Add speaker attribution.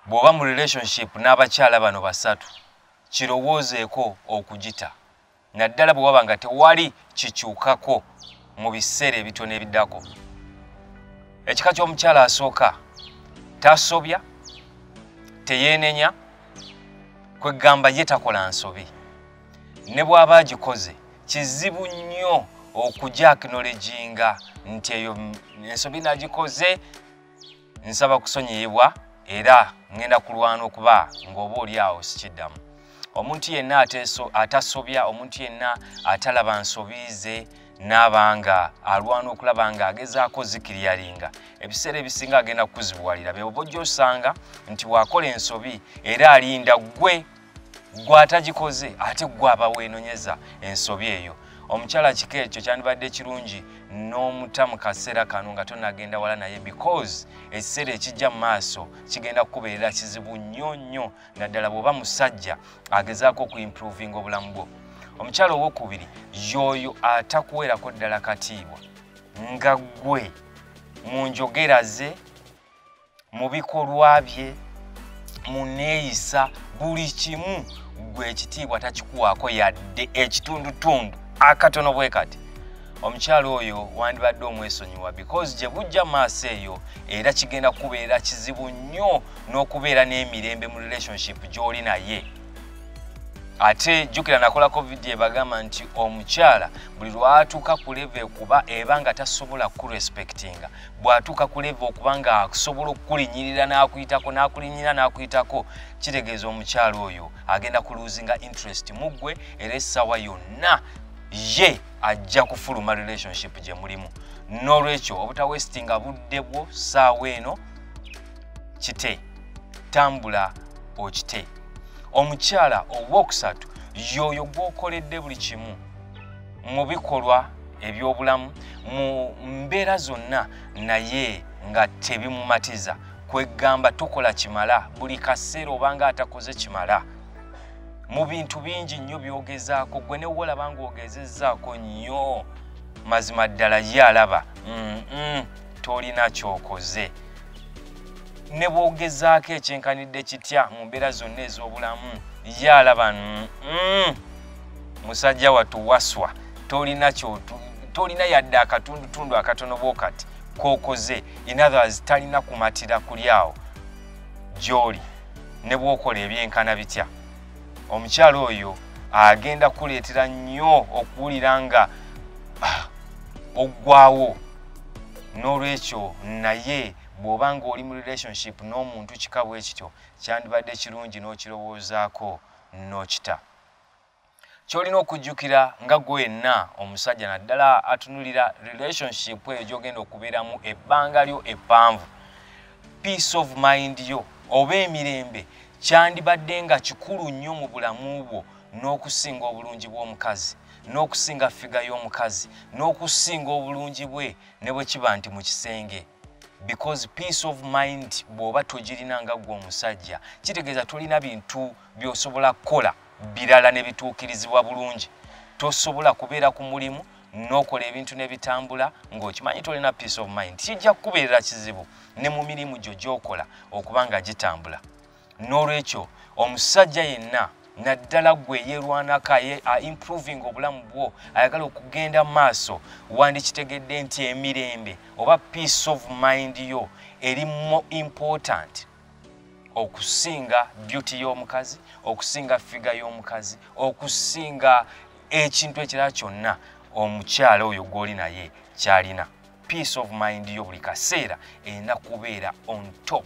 Speaker 1: bw'oba mu relationship n'abakyala bano basatu kirowoozeeko okugita naddala bwe waba nga tewali kikyukako mu biseera ebitono ebiddako ekika ky'omukyala asooka tasobya teyeenenya kwegamba ye takola nsobi ne bw'aba agikoze kizibu nnyo okujakinolejinga nti eyo ensobi nagikoze nsaba kusonyiyibwa era ŋŋenda kulwana okuba ng'oba oli awo sikiddamu omuntu yenna atasobya omuntu yenna atalaba nsobi ze n'aba nga alwana okulaba nga agezaako zikiriyalinga ebiseera ebisinga agenda kukuzibuwalira byoba ojja osanga nti waakola ensobi era alinda ggwe gwe atagikoze ate gwe aba weenonyeza ensobi eyo omukyala kika ekyo kyandibadde kirungi n'omuta mu kaseera kano nga tonagenda wala naye because ekiseera ekijja mu maaso kigenda kukubeerera kizibu nnyo nnyo naddala bw'oba musajja agezaako okuimprovinga obulamu bwo omukyala owokubiri yooyo atakuweerako ddala katiibwa nga ggwe mu njogera ze mu bikolwa bye mu neeyisa buli kimu gwe ekitiibwa takikuwaako yadde ekitundutundu akatono bwe kati omukyala oyo wandibadde omwesonyiwa because gye bujja maaso eyo era kigenda kukubeera kizibu nnyo n'okubeera n'emirembe mu relationship gy'oli naye ate jukira nakolako vidiyo ebagamba nti omukyala buli lwatuuka ku leve kuba eba nga tasobola kurespektinga bw'atuuka ku leeva okuba nga akusobola okukulinyirira n'akuyitako n'akulinyira n'akuyitako kitegeeza omukyalo oyo agenda ku loosinga interest mu ggwe era essaawa yonna ye ajja kufuluma relationship gye mulimu n'olwekyo obutawestinga budde bwo ssaawa eno kite tambula okite omukyala owookusatu yoyo gwokoledde buli kimu mu bikolwa ebyobulamu mu mbeera zonna naye nga tebimumatiza kwegamba tukola kimala buli kaseera obanga atakoze kimala mu bintu bingi nnyo byogezaako gwe newe olaba nga ogezezaako nnyo mazima ddala ye alaba tolina kyokoze ne bwogezaako ekyenkanidde kitya mu mbeera zonna ez'obulamu ye alaba musajja watu waswa tolina kyotu tolina yadde akatundutundu akatono bwokati kokoze inothers talina kumatira kulyawo gyoli ne bwokola ebyenkana bitya omukyalo oyo agenda kuleetera nnyo okuwulira nga ah, oggwawo n'olwekyo naye bw'oba ng'oli mu relationship n'omuntu kika bwe kityo kyandibadde kirungi n'okirowoozaako n'okita kyolina okujjukira nga gwe wenna omusajja naddala atunulira relationship eyo gyogenda okubeeramu ebbanga lyo eppanvu peace of mind yo oba emirembe kyandibadde nga kikulu nnyo mu bulamu bwo n'okusinga obulungi bw'omukazi n'okusinga figa y'omukazi n'okusinga obulungi bwe ne bwe kiba nti mu kisenge because peace of mind bwoba togirina nga gwe omusajja kitegeeza tolina bintu byosobola kukola birala nebituukirizibwa bulungi tosobola kubeera ku mulimu nokola ebintu nebitambula ngaokimanyi tolina peace of mind kijja kukubeerera kizibu ne mu mirimu gyo gyokola okuba nga gitambula n'olwekyo omusajja yenna naddala gwe yeerwanako aimproving obulamu bwo ayagala okugenda mu maaso wandikitegedde nti emirembe oba peace of mind yo eri mo important okusinga beauty y'omukazi okusinga figa y'omukazi okusinga ekintu ekirala kyonna omukyala oyo gw'oli naye kyalina peace of mind yo buli kaseera erina kubeera on top